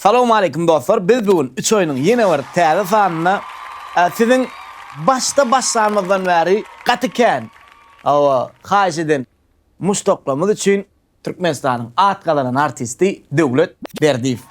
Salowmaleýkim dostlar biz bu gün üç oýnuň ýene bir täze sanynda siziň başda başlanymyzdan bäri gaty kän hawa haýyş eden muşdaklarymyz üçin Türkmenistanyň at gazanan artisti Döwlet Berdiýew.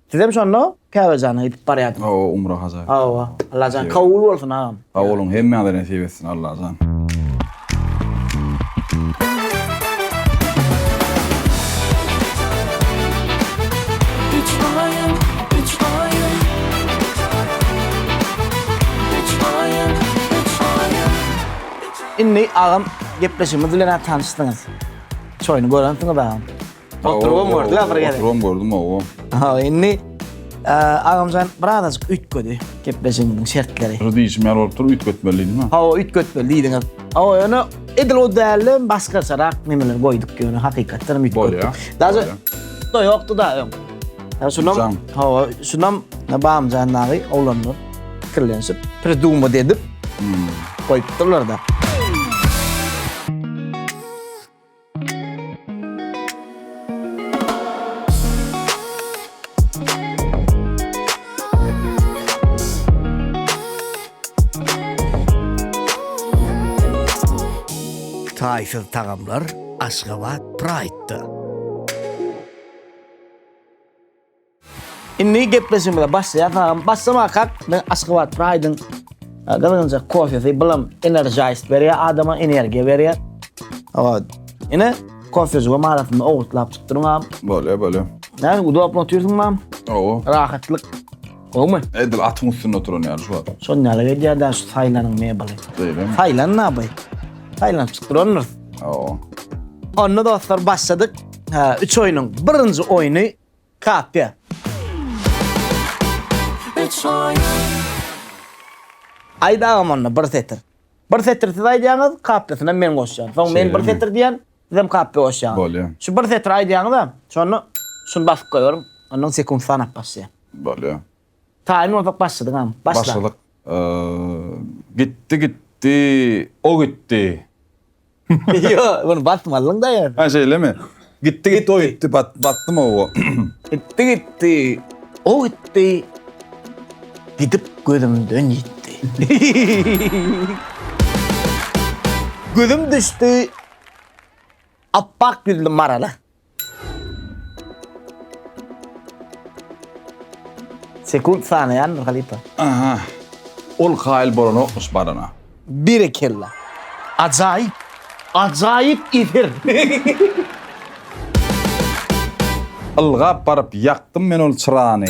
Sizem şonda Käbejana gidip barýardyňyz. Hawa, umra haja. Hawa. Allajan kabul bolsun agam. Sag boluň, hemmäňize nesip etsin Allajan. Indi agam gepleşigimiz bilen-ä tanyşdyňyz. Çoýuny görensiňiz agam. Oturubam gördük ha bir gezek. Oturubam gördüm hawa. Ha indi agamjan birazajyk üýtgedi gepleşigimiň şertleri. Şu diýişim ýaly bolup dur, üýtgetmelidiňmi? Hawa, üýtgetmeli diýdiňiz. Hawa, ýöne edil o dälde başgaçarak nemeler goýduk ýöne hakykatdan hem üýtgetdik. Bolýar. Daže da ýokdy da öň. Ha şunam, hawa, şunam Bamjan dagy oglanlar pikirlenişip, prydumad edip goýupdyrlar da. Taýsyz tagamlar Aşgabat Pride-da! Indi gepleşigimize başlaýarys agam. Başlamakak men Aşgabat Pride-iň e, gyzgynjak kofesi bilim energize berýär, adama energiýa berýär. Hawa, ine kofeji we maratyny owurtlap çykdyryň agam. Bolýar, bolýar. Näme udobny otyrsyň mam? Owo. Rahatlyk. Gowmy? Edil atyň üstünde oturan ýaly şu wagt. Şon ýaly gelýär da şu saýlanyň mebeli. Beýlemi? Saýlan naby. Saýlanyp çykdyrandyr. Owo. Onda dostlar başladyk. Ha, üç oýnuň birinji oýny Kapyýa. Aýt agam onda bir setir. Bir setir siz aýdýaňyz, kapyýasyna men goşýan. Soň men bir setir diýýän, sizem kapyýa goşýaňyz. Bolýa. Şu bir setir aýdýaňyz-a, şony şuny basyp goýberiň, ondan sekunt sanap başlaýan. Bolýa. Taýyn bolsak başladyňam. Başla. Başladyk. Gitdi gitdi o gitdi. Ýo, muny basmalyň da ýöne. Ha şeýlemi? Gitdi gitdi o gitdi basdym owo. Gitdi gitdi o gitdi. Gidip gözümden ýitdi. Gözüm düşdi apbak ýüzli marala. Sekunt sanaýandyr halypa. Aha. Ol kaýyl bolanokmyş barana. Berekella. Ajaýyp. Ajaýyp efir. Ylgap baryp ýakdym men ol çyrany.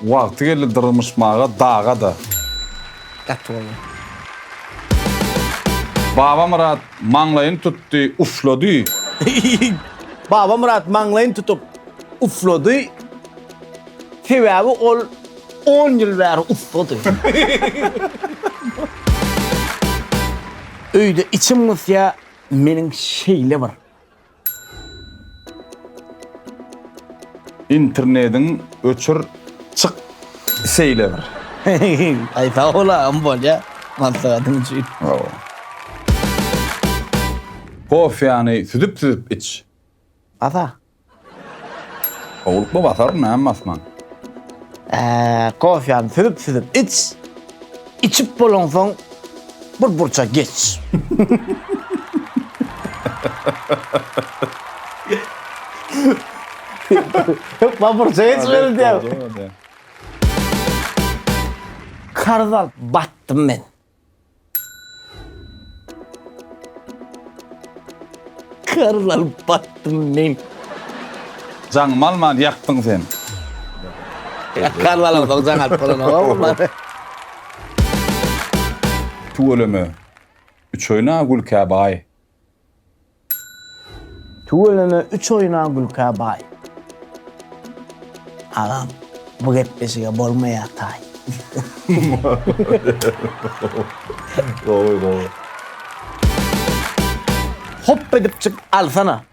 Wagty geldi dyrmyşmaga daga-da. Gaty gowy. Babamyrat maňlaýyny tutdy, uflady. Babamyrat maňlaýyny tutup, uflady, sebäbi ol on ýyl bäri ussady. Öýde içim gysýa meniň şeýle bir. Internediň öçür çyk seýle bir. Aý sag bol agam bolýa maslahatyň üçin. Hawa. Kofýany süzüp süzüp iç. Asa. Sowlukly basar näme basman. Ää, kofýany süzüp-süzüp iç. Içip bolaňsoň, bir burça geç. Hökman burça geç welin diýäň. Karz alyp batdym men. Karz alyp batdym men. Jaňymy alman ýakdyň sen. Karz alamsoň jaň alyp bolanok. Tüweleme. Üç oýna gülkä baý. Tüweleme üç oýna gülkä baý. Agam bu gepleşige bolmaýar taý. Gowy gowy. Hop edip çyk alsana.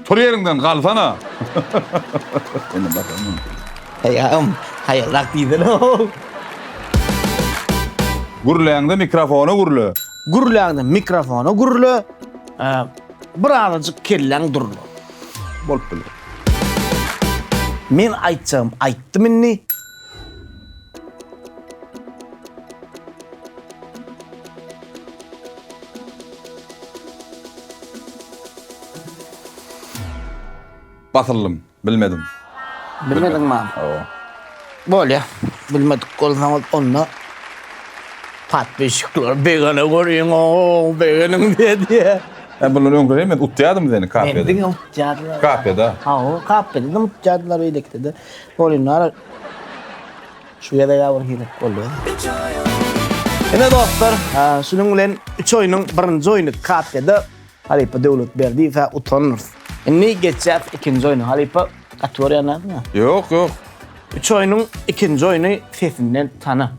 Tur ýeriňden galsana. Indi bakalım. Haýam, haýalrak diýsene. Gürläňde mikrofona gürle. Gürläňde mikrofona gürle. Bir azajyk kelläň durla. Bolup biler. Men aýtjagym aýtdym indi. Basyldym. Bilmedim. Bilmediňmi? Hawa. Bolýa. Bilmedik bolsaňyz onda Patpişikler begene görýän ow begeniň diýýä. Sen bundan öňküri men utýadym seni kafede. Meni diňe utýadylar. Kafeda. Hawa kafede diňe utýadylar beýlekide de. Golinara şu gezek ya bir hilek boldy. Ine dostlar, şunuň bilen 3 oýnuň birinji oýny KT-de halypa Döwletberdiýewe utandyr. Indi geçýäs ikinji oýna. Halypa gaty görýänmi? Ýok, ýok. Üç oýnuň ikinji oýny sesinden tana.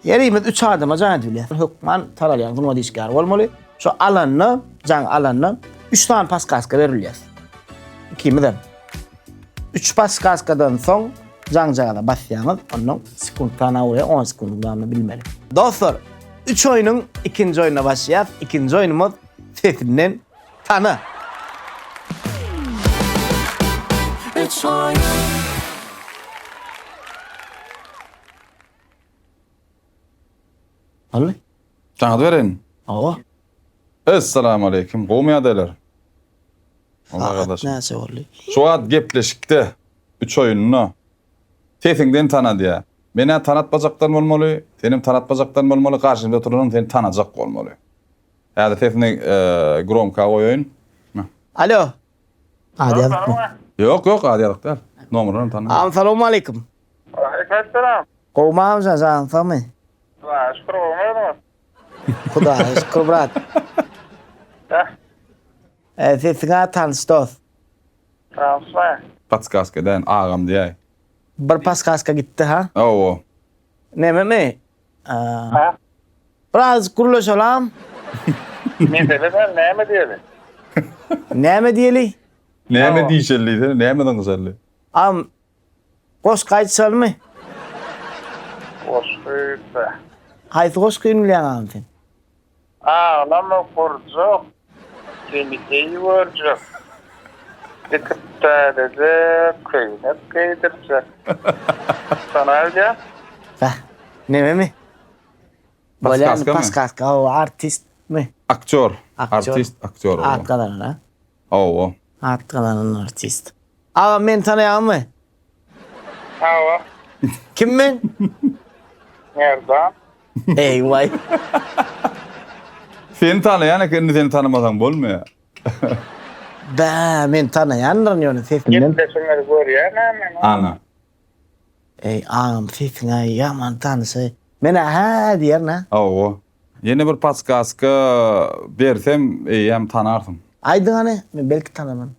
Ýerimiz üç adama jaý edip bilýär. Hökman taralýan zumad işgäri bolmaly. Şu alanda, jaň alanda üç sany paskaska berilýär. Ikimizem. Üç paskaskadan soň jaňjagaza basýaňyz, ondan sekuntdan aw we on sekundyň dowamynda bilmeli. Dostlar, üç oýnuň ikinji oýnuna başlaýas. Ikinji oýnumyz Sesinden tana. Üç oýun. Ally. Jaňyz bereýin. Awa. Essalamu aleýkum. Gowmy ýagdaýlar? Sagat näçe boldy? Şu wagt gepleşikde üç oýunda sesiňden tana diýýä. Menä tanatmajakdan bolmaly, senem tanatmajakdan bolmaly, garşymda oturanam seni tanajak bolmaly. Häzir sesini gromka goýaýyn. Alo. Ady ýazykmy? Ýok, ýok, ady ýazyk däl. Nomerini tanamok. Agam salowmaleýkim. Waleýkimessalam. Gowmy agamjan, janyň sagmy? Hudaýa şükür, gowmy özüňiz? Hudaýa şükür brat. Ýah. Eý sesiňä tanyş dos. Transfer. Patskaska edäýin agam diýäý. Bir paskaska gitdi ha. Hawa. Nememi? Aa. Birazjyk gürleşelam. Mesele sen näme diýeli? Näme diýeli? Näme diýşeli diýsene, nämeden gyşarly? Agam Goşgy aýtjalymy? Goşgy be. Haýsy goşgy diňleýäň agam sen? Aglama gurjak, seni geý görjek, dikip täzeje köýnek geýdirjek. Şonam bilýäň? Bäh, nememi? Bolýamy? Paskaskamy? Paskaska, o artistmi? Aktýor, artist, aktýor bolýar. At gazanan, a? Hawa. At gazanan artist. Agam meni tanaýaňyzmy? Hawa. Kim men? Merdan. Eý waý. Seni tanaýan eken indi seni tanamasaň bolmaýar. Bä meni tanaýandyryn ýöne sesimden. Gepleşigiňizi görýäna men. Ana. Eý agam sesiňä ýaman tanyşaý. Menä hä diýerin hä. Hawa. Ýene bir paskaska bersem eýýäm tanarsyň. Aýdyň hany men belki tanaman.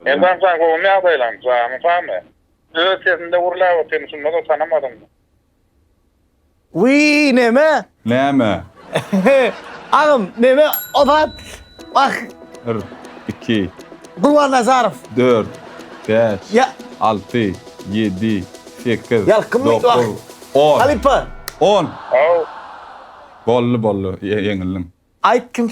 Merdan sag bol gomy ýagdaýlaň janyň sagmy. Öz sesinde gurlap otyr şundada tanamadyňmy. Wiý neme. Näme. Agam meme ozat wah. Bir, iki. Gurban Nazarow. Dört, bäş, alty, ýedi, sekiz, dokuz, on. Halypa. On. Boldy boldy ýeňildiň. Aýt kim.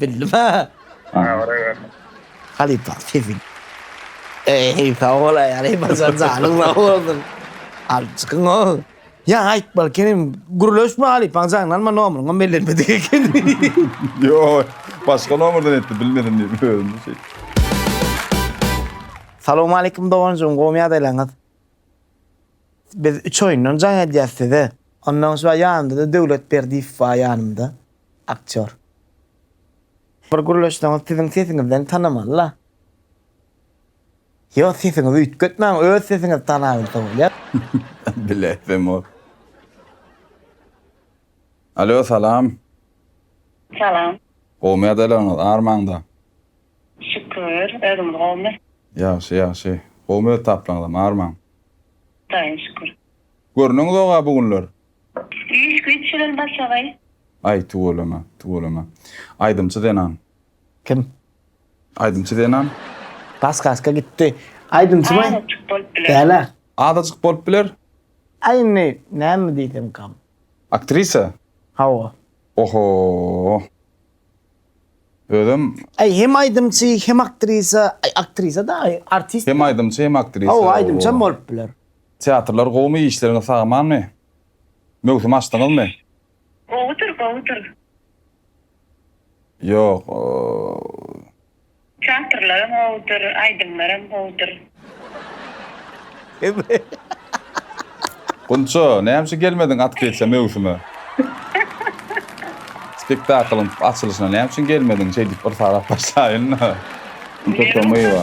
Bildim ha. Halypa sefil. Eý, sag bol aýaly, başar janyň sag bolsun. Alyp çykyň o. Ýa aýt balkenim, gürleşme halypaň jaňyny alma nomuryňam bellenmedik eken. Ýo, başga nomerden etdi, bilmedim diýip özümi şeýtdim. Salowmaleýkim doganjygym gowymy ýagdaýlaryňyz? Biz üç oýundan jaň edýäs size. Ondan soň ýanymda-da Döwlet Berdiýew bar ýanymda. Aktýor. Bir gürleşseňiz siziň sesiňizden tanamalyla. Ýok sesiňizi üýtgetmäň öz sesiňizi tanabilse bolýar. Bilesim ol. Alo salam. Salam. Gowmy ýadaýlaryňyz armaňda. Şükür özüňiz gowmy. Ýagşy ýagşy. Gowmy öz taplaňyzam armaň. Taýyn şükür. Görnüňzog-a bu günler. Iş güýç bilen başagaý. Aý tüweleme, tüweleme. Aýdymçy zenan. Kim? Aýdymçy zenan. Gas gaska gitdi. Aýdymçymy? Azajyk bolup biler. Dälä. Azajyk bolup biler. Aý indi näme diýsemkam. Aktrisa? Hawa. Oho. Özem. Aý hem aýdymçy hem aktrisa. Aý aktrisa da aý artist. Hem aýdymçy hem aktrisa. Hawa aýdymçam bolup biler. Teatrlar gowumy işleriňiz sagamanmy möwsüm açdyňyzmy. Gowudyr gowudyr. Ýok oo. Teatrlaram gowudyr aýdymlaram gowudyr. Gunça näme üçin gelmediň atkrisiýa möwsüme. Spektaklyň açylyşyna näme üçin gelmediň şeýdip bir sarap başlaýynda. Gunça Tomyýewa.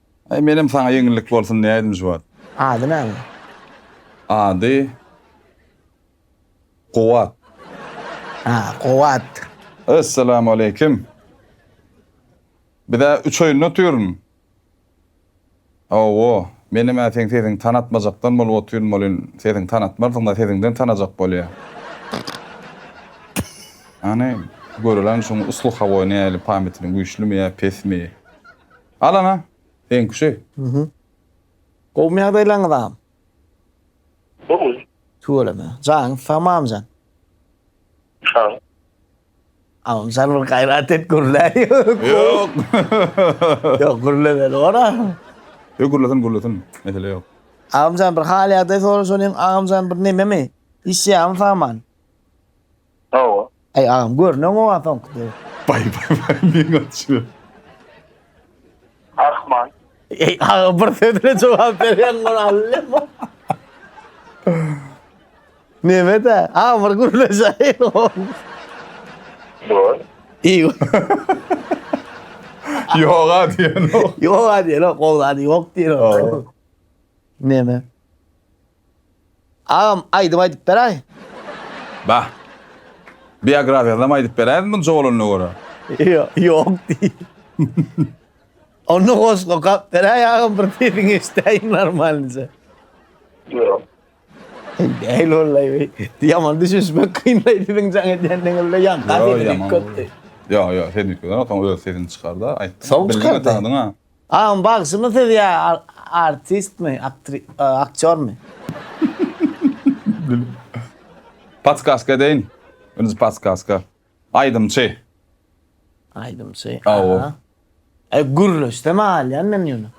Aý menem saňa ýeňillik bolsun diýäýdim şu wagt. Ady näme? Ady Kuwat. Ha, Kuwat. Essalamualeýkim. Biz-ä üç oýunda otyryn. Hawa, menem-ä seň sesiňi tanatmajakdan bolup otyryn welin, sesiňi tanatmarsyň-da, sesiňden tanajak bolýa. Hany, göreliň şuň usly hawa nähili, pametiniň güýçlimi ýa pesmi? Al ana, seňküşi. Mhü. Gowmy ýagdaýlaryňyz agam? Gowy. Tüweleme. Janyňyz sagmy agamjan? Sag. Agamjan bir gaýrat et gürläý. Ýok. Ýok gürlemeli bor a. Ýok gürlesin gürlesin mesele ýok. Agamjan bir hal ýagdaý soraşalyň agamjan bir nememi? Işleýämi saman? Hawa. Aý agam görneň oňa soňky döw. Baý baý baý meň açyp. Ahman. Eý aga bir söz bilen jogap berýäň bir allem. Nemede? Aga bir gürleşäýin. Dur. Eý. Ýoga diýen o. Ýoga diýen o, gowlady ýok diýen o. Neme? Agam aýdym aýdyp beräý. Bah. Biografiýasynyam aýdyp beräýiň munça bolanyna görä. Ýok diý. Onda goşgy okap beräý agam bir sesiňi eşidäýiň normalnyja. Ýok. Däl wallay we ýaman düşünişmek kynlay siziň jaň edýän diňizde ýaňka sesi diýip köpdi. Ýok ýok sen diýip görme soň öz sesiňi çykarda aýt. Soň çykar. Agam bagşymy siz ýa artistmi, aktýormy? Patskaska edeýin. Özi patskaska. Aýdymçy. Aýdymçy. Aw. Aý gürleşse mi alýan men ýöne.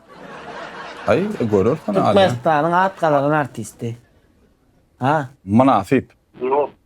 Aý görersen alýan. Türkmenistanyň at gazanan artisti. Ha. Mynasyp. Ýok.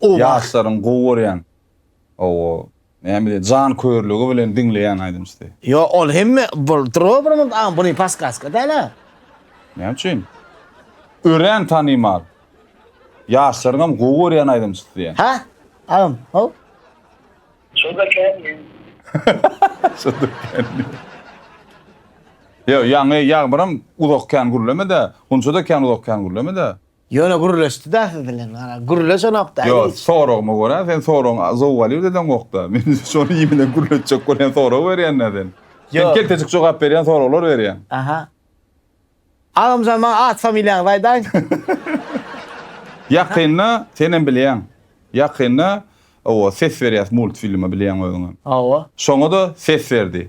Gowy ýaşlaryň gowy görýän owo näme diýer jan körligi bilen diňleýän aýdymçysy. Ýo ol hemme bul drobramyz a buny paskaska däla. Näme üçin? Örän tanymal. Ýaşlaryňam gowy görýän aýdymçysy diýýän. Hä? Agam how? Şoda känmi? Şoda känmi? Ýo ýaňy ýagmyram uzak kän gürlemedä, gunçada kän uzak kän gürlemedä. Ýöne gürleşdi-dä siz bilen, gara, gürleşenok-da hiç. Ýok, soragyma görä, sen soragyňy zowal ýöredeňok-da. Men şony iý bilen gürletjek bolýan sorag berýän-dä sen. Sen keltejik jogap berýän soraglar berýäň. Aha. Agamjan maňa at-familiýaňyzy aýdaýyň. Ýakynda, senem bilýäň, ýakynda, owo, ses berýäs multfilme, bilýäň özüňem. Hawa. Şoňa-da ses berdi.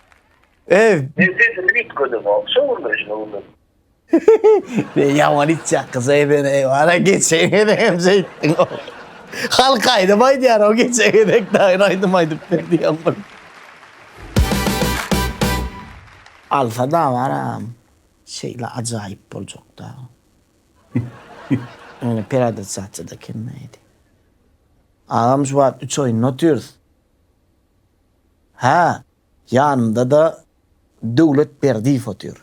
Eý! Men sesimi üýtgedemok, şo günler şuny bildim. Men ýaman içýän gyz ekeni, eý wara geçen gezek hem şeýtdiň ow. Halk aýdym aýdýar ow geçen gezek daýyň aýdym aýdyp ber diýen bir. Alsa dawaram şeýle ajaýyp boljakda. Ýöne pereadaptasiýada kemmäýdi. Agam şu wagt üç oýunda otyrys. Hä, ýanymda-da Döwlet Berdiýew otyr.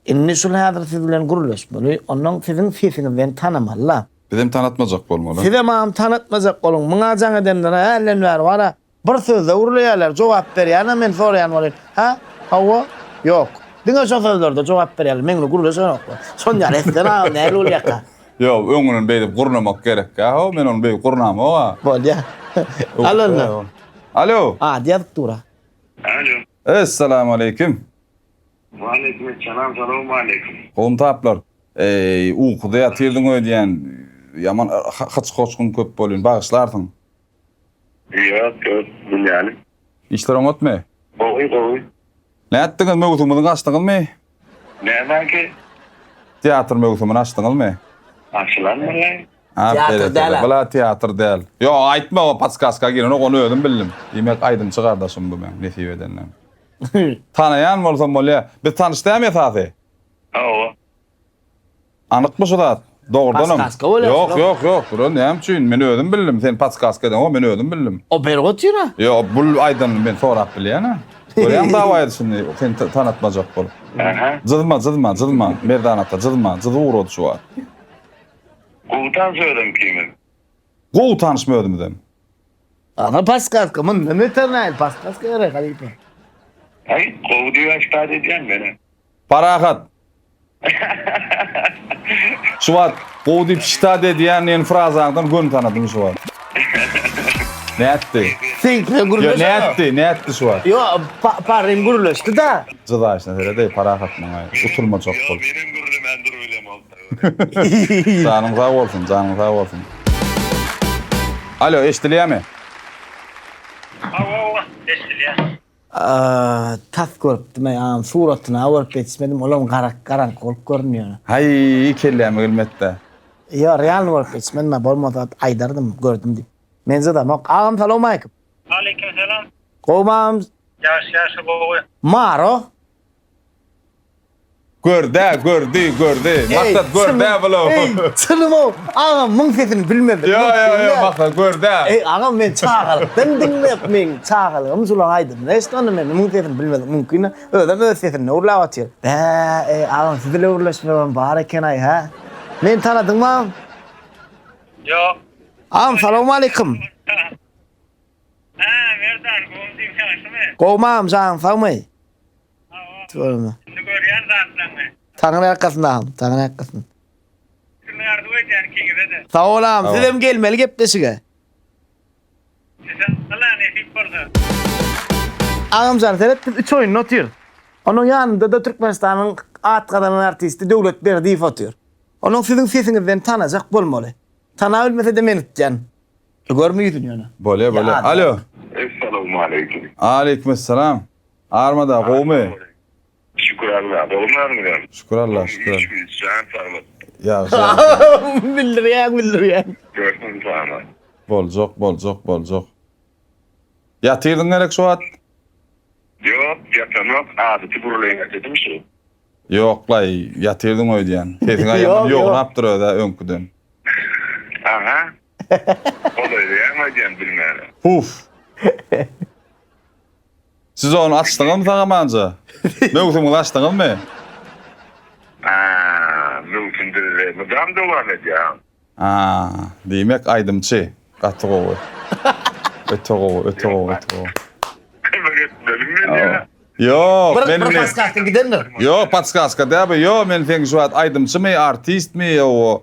Indi şul häzir siz bilen gürleşmeli, onnoň siziň sesiňizden tanamaly-la. Bizem tanatmajak bolmaly. Sizem mam tanatmajak boluň. Muňa jaň edenler-ä hälden bäri bar-a. Bir sözde gürleýärler, jogap berýän-ä men soraýan bolýan. Hä? Hawa? Ýok. Diňe şo sözlerde jogap berýärler, meňle gürleşenoklar. Şonýaly etseň-ä nähili bolýarka? Ýok, öňünden beýdip gurnamak gerekkä-ow, men ony beýdip gurnamok-a. Bolýa. Al onda. Alo! Ady ýazyp dur-a. Alo! Essalam aleýkim! Waleýkim essalam, salowma aleýkim! Gowymy taplar? Eý, ukuda ýatyrdyň öýdýän, ýaman hyç-hoçgyň köp bolýn, bagyşlarsyň. Ýok ýok bilýänim. Işler oňatmy? Gowy gowy. Nätdiňiz möwsümini açdyňyzmy? Nämäki? Teatr möwsümini açdyňyzmy? Açylan bolýar. Teatr däl-ä. Bula teatr däl. Ýok aýtma o podskaska girenok ony özüm bildim. Diýmek aýdymçy gardaşym bu meň nesip edenden. Tanaýan bolsam bolýa. Biz tanyş dämi esasy? Hawa. Anykmy şu zat? Dogrudanam. Paskaska bolýar Ýok, şular. ýok, ýok. Bular näme üçin? Men özüm bildim. Sen paskaska edeniňo men özüm bildim. O berip otyr-a. Ýo, bul aýdanyny men sorap bilýän-ä. Görýäňmi dawa edişini seni ta- tanatmajak bolup. Aha. Jyzma, jyzma, jyzma. Merdan ata jyzma. Jyzy ugrady şu wagt. Gowy tans özüm ikimiz. Gowy tanyşmy özümizem? Ana paskaska, mundan beter näl paskaska gerek halypa. Aý, gowy diýip aýtýar edýän meni. Parahat! Şu wagt gowy diýip şita dediýän neni frazaňdan göni tanadym şu wagt. Nätdi? Seňkine gürleşen. Ýok nätdi, nätdi şu wagt. Ýok, Parym gürleşdi-da. Jydaýşyna seredeý Parahat maňa utulma çok bol. Ýok menem gürlemän durup elem bolsa. Janyň sag bolsun, janyň sag bolsun. Alo eşdilýämi? Hawa, hawa, eşdilýär. Aaa tas görüpdimaý aam suratyna görüp ýetişmedim olam garak garaňky bolup görünýär. Haý kelläme gelmedda. Ýo realny görüp ýetişmedim bolmasa aýdardym gördüm diýip. Menjadamok. Agam salowmaleýkim. Aleýkim salam. Gowymyz? Ýagşy ýagşy gowy. Maro Gördä gördi gördi maksat gördä vlog. Eý çylymow agam muň sesini bilmedim. Ýo ýo ýo maksat gördä. Eý agam men çagalykdan diňläp meň çagalygym şulan aýdymyny eşdonda men muň sesini bilmedim mumkina özem öz sesinde gürläp atyr. Bä eý agam siz ile gürleşmegem bar ekenaý hä. Meni tanadyňmam? Ýok. Agam salowmaleýkim. Hä Merdan gowmy diýiň ýagşymy. Gowmy agam janyň sagmy. Hawa. Indi görýän zatlaryňy. Taňry ýalkasyn agam Taňry ýalkasyn. Üstünlik arzuw edýän ikiňizede. Sag bol agam sizem gelmeli gepleşige. Inşallah nesip bolsa. Agamjan seret biz üç oýunda otyrys. Onuň ýanyndada Türkmenistanyň at gazanan artisti Döwlet Berdiýew otyr. Onuň siziň sesiňizden tanajak bolmaly. Tanabilmesede men gitýän. Görme ýüzüni ýöne. Bolýa bolýa. Alo. Essalowmaleýkim. Aleýkumessalam. Armada gowumy? Şükür Alla. Gowumy özüňiz? Şükür Alla şükür. Iş güýç jan saglyk. Ýagşy ýagşy. Bildirýäň bildirýäň. Görsün sana. Boljak boljak boljak. Ýatyrdyň gerek şu wagt? Ýok ýatanok adaty gürleýin ededim şu. Ýoklaý ýatyrdyň öýdýän. Sesiňä ýaman ýognapdyr özä öňküden. Aha. Golaýlaýaň aýdýan bilmäne. Puf. Siz ony açdyňyzmy sagamanja? Möwsümiňizi açdyňyzmy? Aa, möwsüm bizde mydam dowam edýär. Aa, diýmek aýdymçy. Gaty gowy. Öte gowy, öte gowy, öte gowy. Kömek etmeli men ýa. Ýok, Bir men bir indi. podskasting gidendir. Ýok, podskaska däl bu. Ýok, men seňki şu wagt aýdymçymy, artistmi, ýa o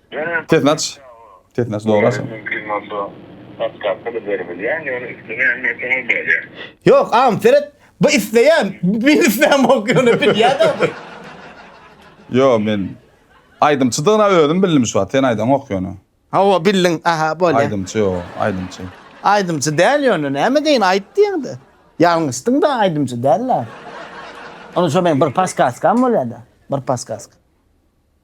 Sesini aç. Sesini aç dogry aç. Mümkin bolsa patkasty da beribilýär ýöne islemeýän bolsaň ol bolýar. Ýok agam seret bu isleýän men isleýän bok ýöne bilýäda bu. Ýo men aýdymçydygyna özüm bildim şu wagt sen aýdaňok ýöne. Hawa bildiň aha bolýa. Aýdymçy ýo aýdymçy. Aýdymçy däl ýöne näme deýin aýt diýeňde. Ýalňyşdyň da aýdymçy däl la. Onda şo meň bir paskaskam bolýada bir paskaska.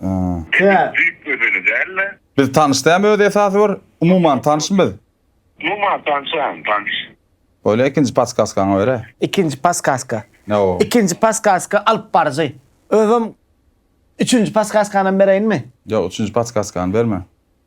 Aa. Menden düýp gözeli dälmi? Biz tanyş dämi özi esasy bir umuman tanyşmy biz? Umuman tanşam tanyş. Bolýa ikinji paskaskaňy bere. Ikinji paskaska. Ne o? Ikinji paskaska alyp baryjy. Özüm üçünji paskaskanam bereýinmi? Ýok üçünji paskaskany berme.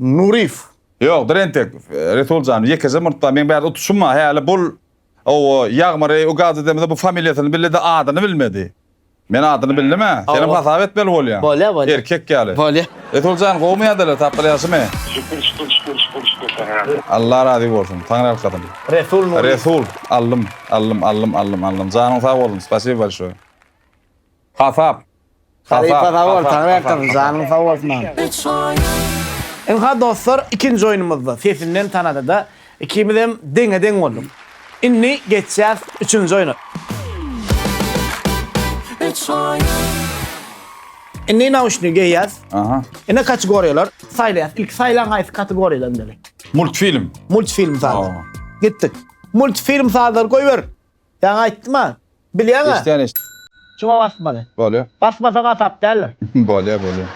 Nuryýew. Ýokdur entek, Resul jan, ýekeje murtda meň bärde utuşym bar, häli bul owo, Ýagmyry ukazy demese bu familiýasyny bildi-de adyny bilmedi. Men adyny bildim-ä, senem hasap etmeli bolýaň. Bolýa, bolýa. Erkek ýaly. Bolýa. Resul jan, gowumy ýadalar, tapgyr ýagşymy? Şükür, şükür, şükür, şükür, şükür, Taňra. Alla razy bolsun, Taňryýalkasyn. Resul Nuryýew. Resul, aldym, aldym, aldym, aldym, aldym. Janyň sag bolsun, spasiba bolşoý. Hasap. Halypa sag bol Taňry ýalkasyn janyň sag bolsun. Ynha dostlar ikinji oýnumyzda sesinden tanadyda ikimizem deňe deň bolduk. Indi geçýäs üçünji oýna. Indi nauşnigi geýýäs. Aha. Indi kategoriýalar saýlaýas. Ilki saýlaň haýsy kategoriýada indeli. Multfilm. Multfilm saýla. Gitdik. Multfilm sazlary goýber. Ýaňy aýtdym-a. Bilýäň-ä. Eşdýän eş. Şuňa basmaly. Bolýa. Basmasa gatap däldir. Bolýa bolýa.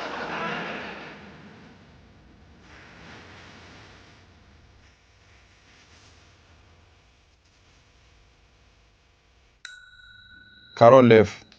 Karol lew.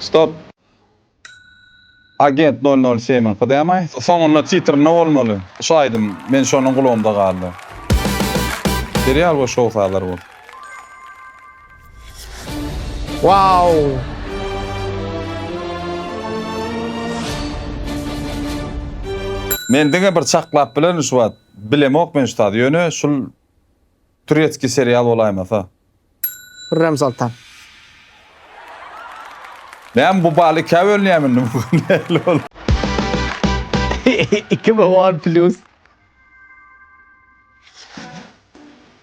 Stop. Agent nol nol semiň kdma. Soňunda titrinde bolmaly şu aýdym men şonuň gulagymda galdy. Serial we şou sazlar bolsun. Wow! Men diňe bir çaklap bilerin şu wagt. Bilemok men şu tazy. Ýöne şul turetski serial bolaýmasa. Hürrem Soltan. Men bu bal ikä bölünýärmi indi bu nähili bol. Iki mi on plus.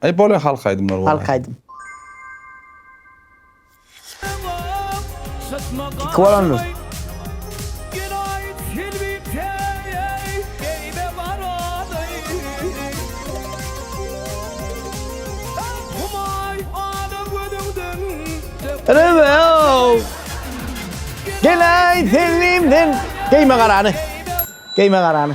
Aý bolýa halk aýdymlar bolýa. Halk aýdym. Iki bolondur. Gel aý tenlimden. Geýme garany. Geýme garany.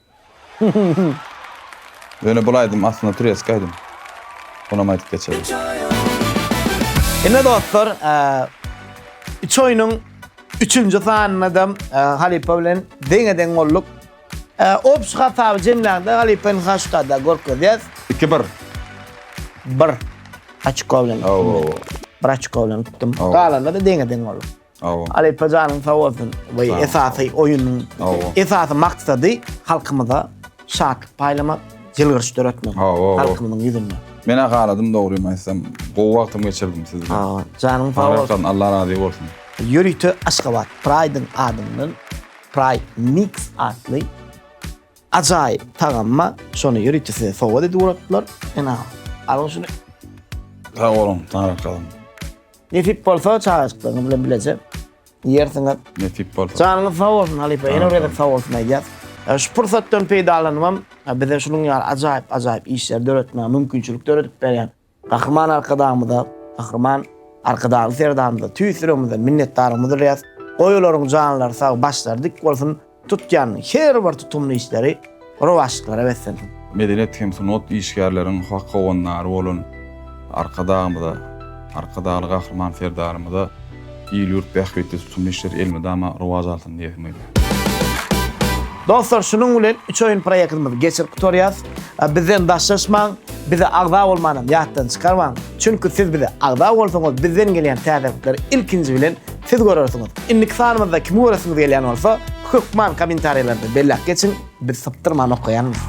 Ýöne bul aýdym aslynda türeski aýdym. Onam aýdyp geçeris. Ine dostlar, üç oýnuň üçünji sanynadam halypa bilen deňe-deň bolduk. Opşy hasaby jemläňde halypa indi haşkada görkezýäs. Iki bir. Bir. Açko bilen. Aw. Bir açko bilen utdum. Galanda-da deňe-deň bolduk. Alypa janyň sag bolsun we esasy oýunyň esasy maksady halkymyza şatlyk paýlamak, ýylgyryş döretmek halkymyzyň ýüzünde. Men ahaladym dogrymy aýtsam, gowy wagtymy geçirdim siz bilen. Janyň sag bolsun. Allah razy bolsun. Ýörite Aşgabat Praýdyň adyndan Praý Mix atly ajaýyp tagam bar. Şony ýörite size sowgat edip ugrapdylar. Ene, alyň şuny. Sag boluň, Taňrykalyň. Nesip bolsa çagajyklaryňyz bilen bileje ýersiňiz. Nesip bolsa. Janyňyz sag bolsun halypa. Ýene bir gezek sag bolsun aýdýas. E, şu pursatdan peýdalanypam e, bize şunuň ýaly ajaýyp ajaýyp işleri döretmäge mümkinçilik döredip berýän Gahryman Arkadagymyza, Gahryman Arkadagly Serdarymyza tüýs ýüregimizden minnetdarlygymyzy bildirýäs. Goýularyň janlary sag, başlary dik bolsun. Tutýan her bir tutumly işleri rowaçlyklara beslensin! Medeniýet hem sungat işgärleriň hak howandary bolan Arkadagymyza, Arkadagly Gahryman Serdarymyza il-ýurt bähbitli tutumly işler elmydama rowaç alsyn diýesim gelýär. Dostlar şunuň bilen üç oýun proýektimizi geçirip gutarýas. Bizden daşlaşmaň, bize agza bolmanam ýatdan çykarmaň. Çünki siz bize agza bolsaňyz bizden gelýän täzelikleri ilkinji bilen Siz görersiňiz. Indiki sanymyzda kimi göresiňiz gelýän bolsa, hökman kommentariýalarda belläp geçiň, biz sypdyrman okaýarys.